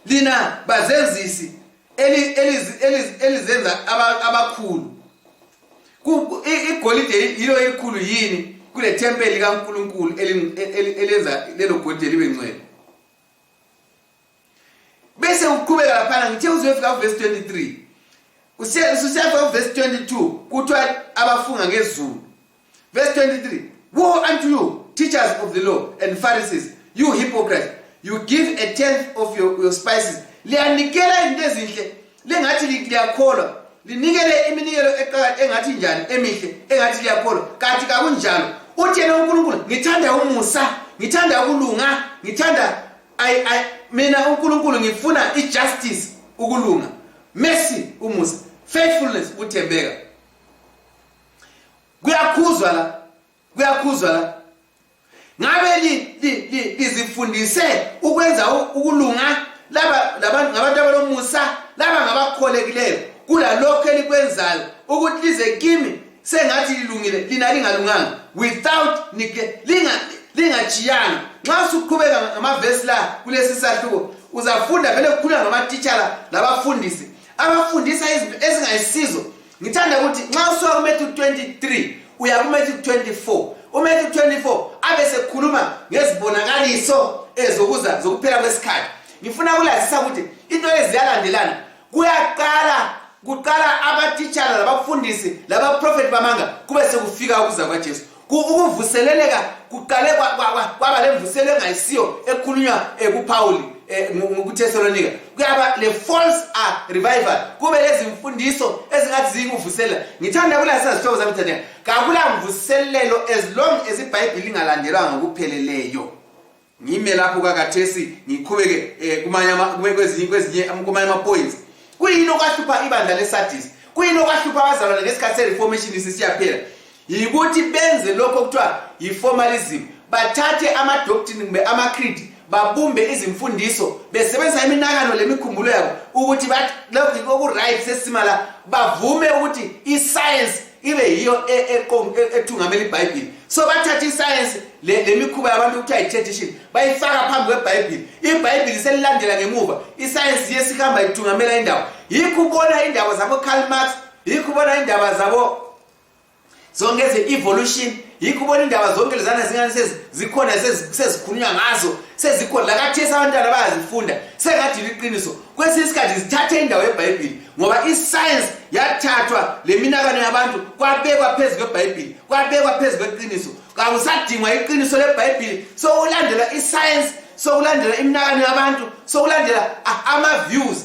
S1: lina bazenzisi elizenza abakhulu igolide yilo elikhulu yini kule thempeli likaNkulunkulu elenza lelo golide libe ngcwele bese uqhubeka laphana ngithe uzofika kuverse 23 usiyafika kuverse 22 kuthiwa abafunga ngezulu Verse 23 Woe unto you, teachers of the law and Pharisees, you hypocrites! You give a tenth of your, your spices. Liyanikela izinto ezinhle, lingathi liyakholwa. Linikele iminikelo engathi njani emihle, engathi liyakholwa. Kanti kakunjalo. Uthi yena uNkulunkulu, ngithanda umusa, ngithanda ukulunga, ngithanda I I mina uNkulunkulu ngifuna ijustice, ukulunga. Mercy, umusa, faithfulness, uthembeka. kuyakhuzwa la kuyakhuzwa la ngabe lizifundise li, li, li ukwenza ukulunga laba labantu ngabantu abalomusa laba ngabakholekileyo kulalokho elikwenzayo ukuthi lize kimi sengathi lilungile lina lingalunganga without lingajiyanga nxa usuqhubeka ngamavesi la kulesi sahluko uzafunda vele kukhulula ngamatitshala labafundisi abafundisa izinto ezingayisizo ngithanda ukuthi nxa usuka kumethu 23 uya kumethu 24 umethu 24 abe sekhuluma ngezibonakaliso ezokuza zokuphela kwesikhathi ngifuna kulazisa ukuthi into eziyalandelana kuyaqala kuqala abatitshala labafundisi labaprofethi bamanga kube sekufika ukuza kwajesu ukuvuseleleka kuqale kwaba lemvuselo engayisiyo ekhulunywa eh, kuphawuli eh, kuthesalonika kuyaba le-false ah, revival kube lezimfundiso ezingathi ziyikuvuselela ngithanda kulasisa zihlobo zami thandeka kakula mvuselelo as long as ibhayibhili ingalandelwa ngokupheleleyo ngime lapho kakathesi ngiqhubeke eh, kumanye kwezinye kwezinye kumanye ama points kuyini okwahlupha ibandla lesadis kuyini okwahlupha abazalwane ngesikhathi sereformation isisiyaphela yikuthi benze lokho kuthiwa yiformalism bathathe amadoctrine kumbe amacreed babumbe izimfundiso besebenzisa iminakano lemikhumbulo yabo ukuthi bathi lokhu okuright sesima la bavume ukuthi iscience ibe yiyo e, e, e, ethungamela ibhayibhili so bathatha isayensi le mikhuba yabantu kuthiwa yi-tradition bayifaka phambi kwebhayibhili ibhayibhili selilandela ngemuva isayensi ye sihamba ithungamela indawo yikho ubona indaba zabocarl marx yikho ubona indaba zabo zonke eze-evolution yikho ubona indaba zonke lezana zingane zikhona sezikhulunywa ngazo sezikhona lakathesi abantwana bayazifunda sengathi liqiniso kwesinye isikhathi zithathe indawo yebhayibhili ngoba isayensi yathathwa le minakano yabantu kwabekwa phezu kwebhayibhili kwabekwa phezu kweqiniso kakusadingwa iqiniso lebhayibhili sokulandela isayensi sokulandela iminakano yabantu sokulandela ama-views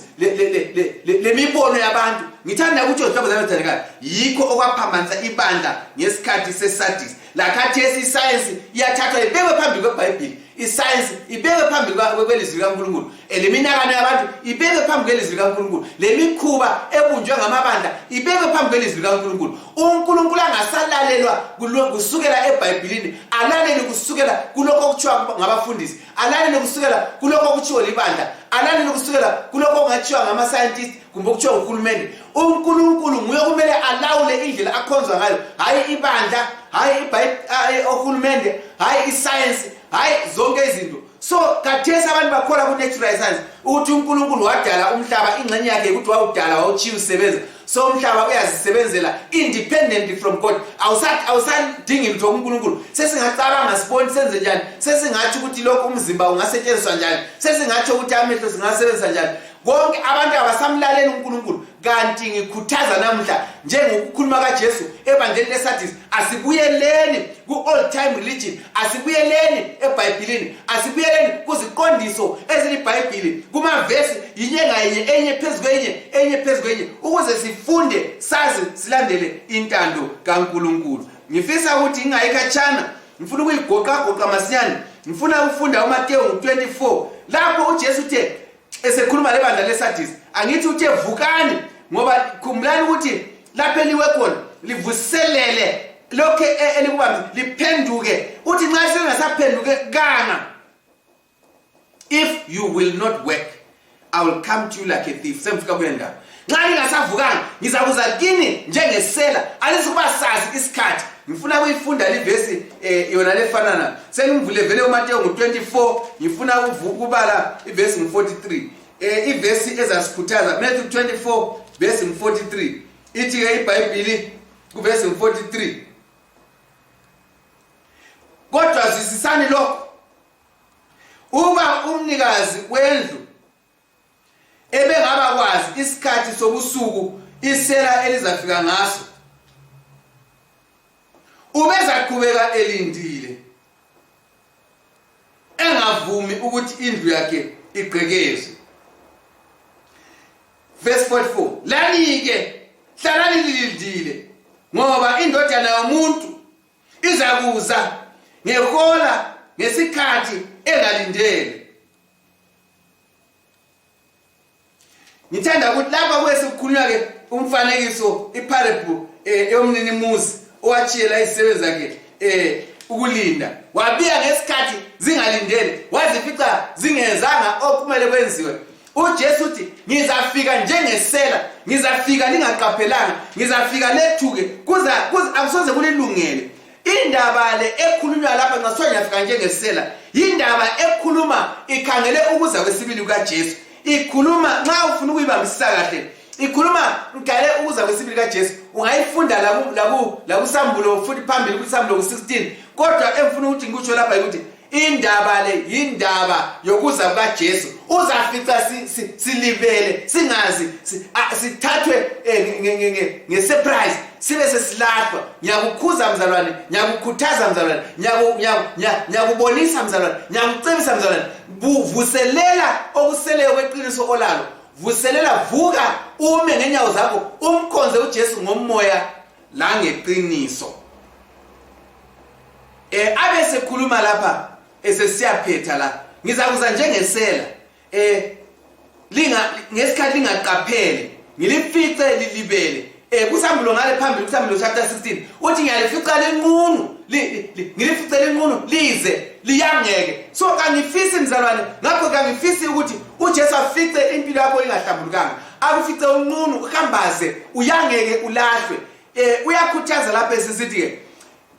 S1: le mibono yabantu ngithanda ukuthi ohlobozanothandekayo yikho okwaphambanisa ibandla ngesikhathi sesadisi lakhathesi isayensi iyathathwa ibekwe phambi kwebhayibhili isayensi ibekwe phambi kwelizwi likankulunkulu eliminakano yabantu ibekwe phambi kwelizwi likankulunkulu lemikhuba ebunjwe ngamabandla ibekwe phambi kwelizwi likankulunkulu unkulunkulu angasalalelwa kusukela ebhayibhilini alalele kusukela kulokho okuthiwa ngabafundisi alalele kusukela kulokho okutshiwo libandla alalele kusukela kulokho okungatshiwa ngama-scientist kumbe okutshiwo nguhulumende unkulunkulu nguye okumele alawule indlela akhonzwa ngayo hhayi ibandla hhayi ohulumende hhayi isayensi hhayi zonke izinto so kathesi abantu bakhola ku-natural science ukuthi unkulunkulu wadala umhlaba ingxenye yakhe ukuthi wawudala wawutshiya usebenza so umhlaba uyazisebenzela independently from god awusadingi lutho kunkulunkulu sesingacabanga siboni senze njani sesingatsho ukuthi lokhu umzimba ungasetshenziswa njani sesingatsho ukuthi amehlo singasebenzisa njani konke abantu abasamlaleli unkulunkulu kanti ngikhuthaza namuhla njengokukhuluma kajesu ebandleni lesadis asibuyeleni ku-old time religion asibuyeleni ebhayibhilini asibuyeleni kuziqondiso ezilibhayibhili kumavesi yinye ngayinye enye phezu kwenye enye phezu kwenye ukuze sifunde sazi silandele intando kankulunkulu ngifisa ukuthi ngingayi khatshana ngifuna ukuyigoqagoqa masinyane ngifuna ukufunda umatewu 24 lapho ujesu uthe esekhuluma lebandla lesadis angithi uthe vukani ngoba khumbulani ukuthi lapho eliwe khona livuselele lokhu e, elikubambi liphenduke uthi nxa selingasaphenduke kanga if you will not work i will come to you like a thief sengifika kule ndawo nxa lingasavukanga ngizakuza kini njengesela alizukuba sazi isikhathi ngifuna kuyifunda livesi eh, yona lefanana sengimvule vele umatewu ngu-24 ngifuna ukubala ivesi ngu-43 eh, ivesi ezasikhuthaza matthew 24 vesi ngu-43 ithi-ke ibhayibhili kuvesi ngu-43 kodwa zwisisani lokho uba umnikazi wendlu ebengaba kwazi isikhathi sobusuku isela elizafika ngaso ubezaqhubeka elindile engavumi ukuthi indlu yakhe igqekezwe verse 44 lanike hlalani lilindile ngoba indodana yomuntu izakuza ngehola ngesikhathi engalindele ngithanda ukuthi lapha kuye sekukhulunywa-ke umfanekiso iparable um eh, yomninimuzi owatshiyela izisebenzi zakhe um ukulinda wabiya ngesikhathi zingalindele wazifica zingenzanga okumele kwenziwe ujesu uthi ngizafika njengesela ngizafika lingaqaphelanga ngizafika lethuke akusoze kulilungele indaba le ekhulunywa lapha nxa kuthiwa ngiyafika njengesela yindaba ekhuluma ikhangele ukuza kwesibili kukajesu ikhuluma nxa ufuna ukuyibambisisa kahle ikhuluma ngale ukuza kwesibili kajesu ungayifunda lakusambulo futhi phambili kusambulo ku-16 kodwa engifuna ukuthi ngikutsho lapha yikuthi indaba le yindaba yokuza kukaJesu uzafica silibele singazi sithathwe eh, ngesurprise sibe sesilahlwa ngiyakukhuza mzalwane ngiyakukhuthaza mzalwane ngiyakubonisa mzalwane ngiyakucebisa mzalwane vuselela okuseleyo kweqiniso olalo vuselela vuka ume ngenyawo zakho umkhonze uJesu ngomoya langeqiniso eh abe sekhuluma lapha esesiyaphetha la ngizakuza njengesela eh linga ngesikhathi lingaqaphele ngilifice lilibele eh kusambulo ngale phambili kusambulo chapter 16 uthi ngiyalifica lenqunu ngilifice lenqunu lize liyangeke so kangifisi mzalwane ngakho kangifisi ukuthi uJesu afice impilo yakho ingahlambulukanga akufice unqunu uhambaze uyangeke ulahlwe eh uyakhuthaza lapha esisithi ke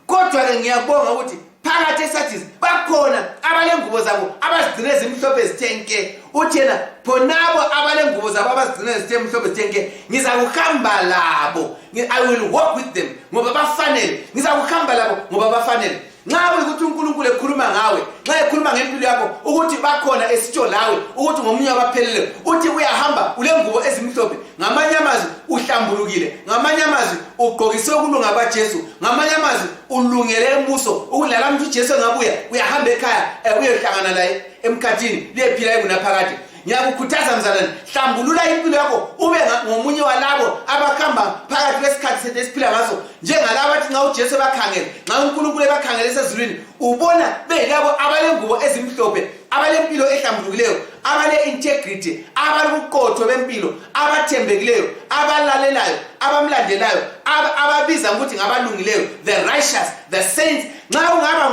S1: kodwa-ke ngiyabonga ukuthi phakathi esathis bakhona abalengubo zabo abazigcine zimhlophe zithe nke uthi yena khonabo abalengubo zabo abazigcine zithe mhlophe zithe nke ngizakuhamba labo i will walk with them ngoba bafanele ngizakuhamba labo ngoba bafanele nxa kuyikuthi unkulunkulu ekhuluma ngawe nxa ekhuluma ngempilo yakho ukuthi bakhona esitsho lawe ukuthi ngomunye wabapheleleyo uthi uyahamba ulengubo ezimhlophe ngamanye amazwi uhlambulukile ngamanye amazwi ugqokise ukulunga kwajesu ngamanye amazwi ulungele embuso ukulala mntu ujesu engabuya uyahamba ekhaya eh, uyohlangana laye emkhathini liyephila ekunaphakade ngiyakukhuthaza mzalwane hlambulula impilo yakho ube ngomunye walabo abakhamba phakathi kwesikhathi sethu esiphila ngaso njengalabo athi nxa ujesu ebakhangele nxa unkulunkulu ebakhangele esezulwini ubona beyilabo abalengubo ezimhlophe abalempilo ehlambulukileyo abale-integrity abaluqotho bempilo abathembekileyo abalalelayo abamlandelayo ababiza ukuthi ngabalungileyo the righteous the saints nxa ungaba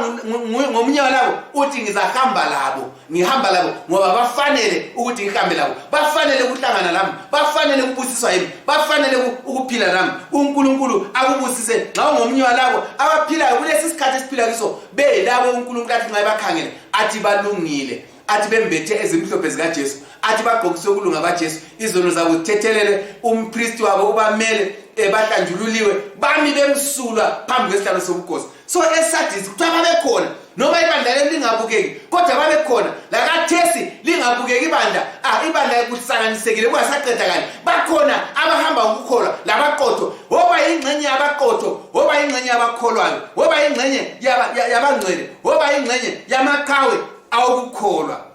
S1: ngomunye walabo uthi ngizahamba labo ngihamba labo ngoba bafanele ukuthi ngihambe labo bafanele ukuhlangana lami bafanele ukubusiswa yimi bafanele ukuphila lami unkulunkulu akubusise nxa ungomunye walabo abaphilayo kulesi sikhathi esiphila kiso belabo unkulunkulu athi nxa ebakhangele athi balungile athi bembethe ezimhlophe zikajesu athi bagqokise ukulunga bajesu izono zabo zithethelele umpristi wabo ubamele ebahlanjululiwe eh, bami bemsulwa phambi kwesihlalo sobukhosi so esadisi kuthiwa babekhona noma ibandla leli lingabukeki kodwa babekhona lakathesi lingabukeki ibandla ah ibandla kuhlanganisekile kungasaqeda kani bakhona abahamba ngokukholwa labaqotho woba yingxenye yabaqotho woba yingxenye yabakholwayo woba yingxenye yabangcwele woba ingxenye yamaqhawe awokukholwa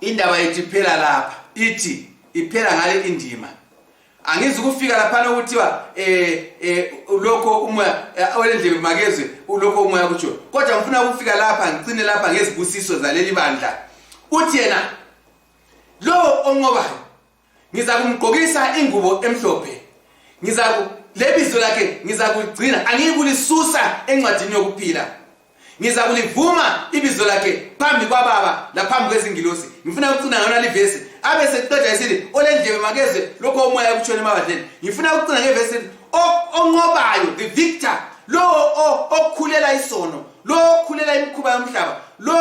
S1: indaba yethu iphela lapha ithi iphela ngale indima angizi ukufika laphana okuthiwa um eh, eh, lokho umoya eh, olendlebe makezwe lokho umoya kutsho kodwa ngifuna ukufika lapha ngicine lapha ngezibusiso zaleli bandla uthi yena lowo onqobayo ngizakumgqokisa ingubo emhlophe ngizaku lebizo lakhe ngizakuligcina angiyikulisusa encwadini yokuphila ngizakulivuma ibizo lakhe phambi kwababa laphambi kwezingilosi ngifuna ukucina ngona livesi abe seqeda esithi olendlebe makezwe lokho umoya ekutshona emabadleni ngifuna ukucina ngevesi onqobayo the victor lowo okhulela isono lo okhulela imikhuba yomhlaba lo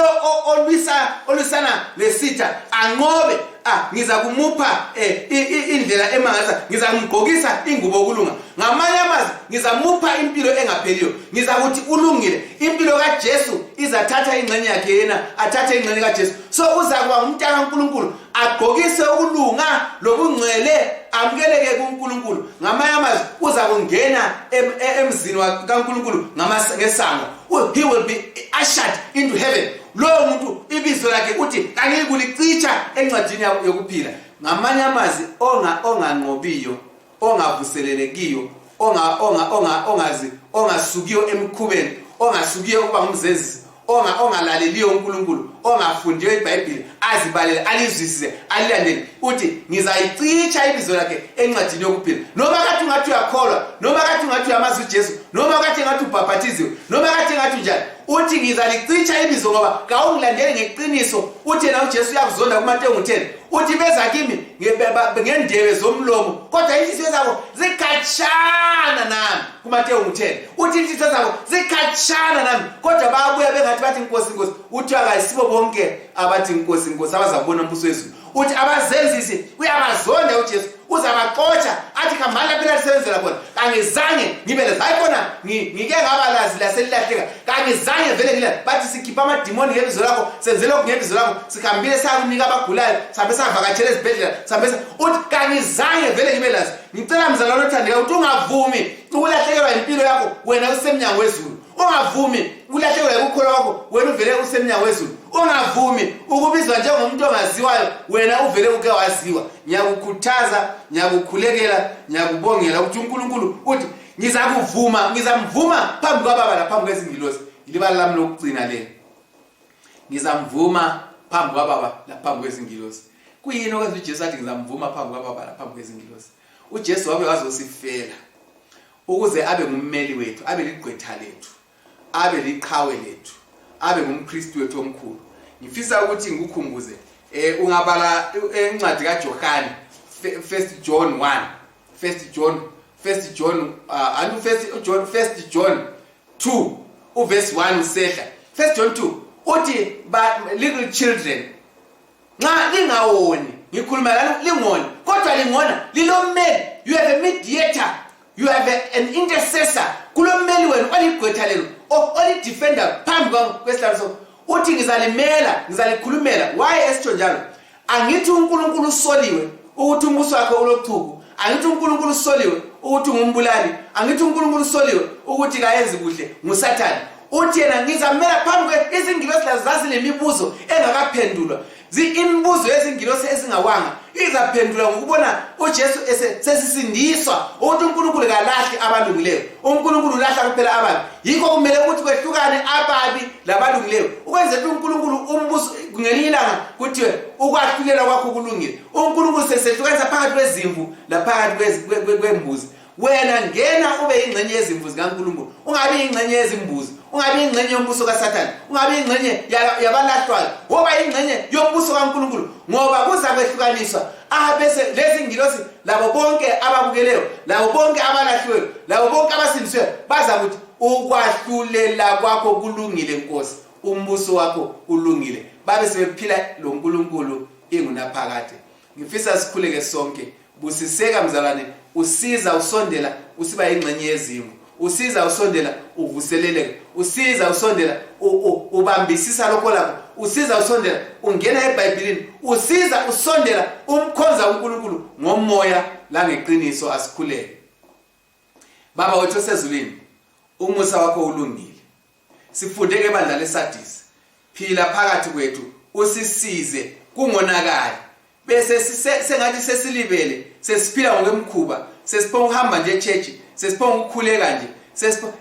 S1: olwisa olwisana lesitha anqobe ah ngiza kumupha eh, indlela emangaza ngiza kumgqokisa ingubo okulunga ngamanye amazwi ngiza mupha impilo engapheliyo ngiza kuthi ulungile impilo kaJesu izathatha ingxenye yakhe yena athathe ingxenye kaJesu so uza kuba ngumntana kaNkuluNkulu agqokise ukulunga lobungcwele amukeleke kuNkulunkulu ngamanye amazwi uza kungena e-, emzini kaNkulunkulu ngesango he will be ushered into heaven lowo muntu ibizo lakhe uthi kangiyikulicitsha encwadini yokuphila ngamanye amazwi onganqobiyo ongavuselelekiyo ongasukiyo emkhubeni ongasukiyo ukuba ngumzenzisi ongalaleliyo unkulunkulu ongafundiyo ibhayibhile azibalele alizwisise alilandele uthi ngizayicitsha ibizo lakhe encwadini yokuphila noma kathi ungathi uyakholwa noma kathi ungathi uyamazi ujesu noma kathi engathi ubhabhathiziwe noma kathi engathi unjani uthi ngizalicitsha ibizo ngoba kawungilandeli ngeqiniso uthi yena ujesu uyakuzonda kumatengu 10 uthi beza kimi ngendebe zomlomo kodwa inhliziyo zabo zikhatshana nami kumatewu ngithele uthi inhliziyo zabo zikhatshana nami kodwa bayabuya bengathi bathi nkosi nkosi uthi akayisibo bonke abathi nkosi nkosi abazakubona umbuso wezulu uthi abazenzisi uyabazonda ujesu uzabaxotsha athi khambani lapho elasebenzela khona kangizange ngibe lazi hayi khona ngike ngaba lazi laselilahleka kangizange vele ngila bathi sikhipha amadimoni ngebizo lakho senze lokhu ngebizo lakho sihambile sakunika abagulayo sihambe savakatshela ezibhedlela sihambe uthi kangizange vele ngibe lazi ngicela mzalwane othandeka ukuthi ungavumi ukulahlekelwa yimpilo yakho wena usemnyango wezulu ungavumi ukulahlekelwa yikukholwa kwakho wena uvele usemnyango wezulu ungavumi ukubizwa njengomuntu ongaziwayo wena uvele uke waziwa ngiyakukhuthaza ngiyakukhulekela ngiyakubongela ukuthi unkulunkulu uthi ngizakuvuma ngizamvuma phambi kwababa laphambi kwezingilosi ilibala lami lokugcina le ngizamvuma phambi kwababa laphambi kwezingilosi kuyini okwenza ujesu athi ngizamvuma phambi kwababa laphambi kwezingilosi ujesu wabe wazosifela ukuze abe ngummeli wethu abe ligqwetha lethu abe liqhawe lethu abe ngumkristu wethu omkhulu ngifisa ukuthi ngikukhumbuze um ungabala eh, incwadi kajohane first john 1 first john first john uh, and first john first john 2 uverse 1 usehla first john 2 uthi little children nxa lingawoni ngikhuluma lalo lingoni kodwa lingona lilommeli you have a mediator you have a, an intercessor kulommeli wenu oligqwetha lelo olidefenda phambi kwesihlalo so uthi ngizalimela ngizalikhulumela waye esitsho njalo angithi unkulunkulu usoliwe ukuthi umbuso wakhe ulochuku angithi unkulunkulu usoliwe ukuthi ngumbulali angithi unkulunkulu usoliwe ukuthi kayenzi kuhle ngusathane uthi yena ngizamela phambi kwe izingilosi lazo zazinemibuzo engakaphendulwa imibuzo yezingilosi ezingawanga izaphendula ngokubona ujesu sesisindiswa ukuthi unkulunkulu kalahli abalungileyo unkulunkulu ulahla kuphela abantu yikho kumele ukuthi kwehlukane ababi labalungileyo ukwenzela ukuthi unkulunkulu umbuso ngelinye ilanga kuthiwe ukwahlulela kwakho kulungile unkulunkulu sesehlukanisa phakathi kwezimvu laphakathi kwembuzi wena ngena ube yingxenye yezimvu zikankulunkulu ungabi yingxenye yezimbuzi ungabi yingxenye yombuso kasathane ungabi yingxenye yabalahlwayo woba yingxenye yombuso kankulunkulu ngoba kuzakwehlukaniswa abese lezi ngilosi labo bonke ababukeleyo labo bonke abalahliweyo labo bonke abasindisiweyo baza kuthi ukwahlulela kwakho kulungile nkosi umbuso wakho ulungile babe sebephila lo nkulunkulu ingunaphakade ngifisa sikhuleke sonke busiseka mzalwane usiza usondela usiba yingxenye yezimo usiza usondela uvuseleleka usiza usondela ubambisisa lokho lakho usiza usondela ungena ebhayibhilini usiza usondela umkhonza unkulunkulu ngomoya langeqiniso asikhuleke baba wethu osezulwini umusa wakho ulungile sifunde ngebandla lesadisi phila phakathi kwethu usisize kungonakali bese sengathi sesilibele sesiphila ngokwemkhuba sesiphonga ukuhamba nje echechi sesiphonga ukukhuleka nje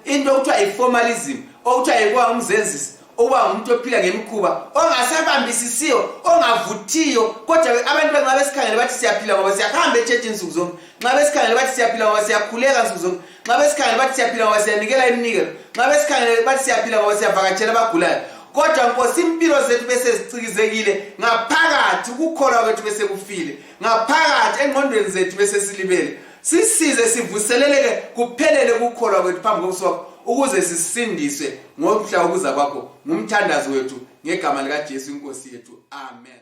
S1: into okuthiwa yi-formalism okuthiwa yikuba umzenzisi ukuba ngumuntu ophila ngemikhuba ongasabambisisiyo ongavuthiyo kodwa abantu benxa besikhangele bathi siyaphila ngoba siyahamba echechi nsuku zonke nxa besikhangele bathi siyaphila ngoba siyakhuleka nsuku zonke nxa besikhangele bathi siyaphila ngoba siyanikela iminikelo nxa besikhangele bathi siyaphila ngoba siyavakatshela abagulayo kodwa nkosi impilo zethu besezicikizekile ngaphakathi ukukholwa kwethu besekufile ngaphakathi engqondweni zethu besesilibele sisize sivuseleleke kuphelele ukukholwa kwethu phambi kobuso wakho ukuze sisindiswe ngomhla wokuza kwakho ngumthandazi wethu ngegama likajesu inkosi yethu amen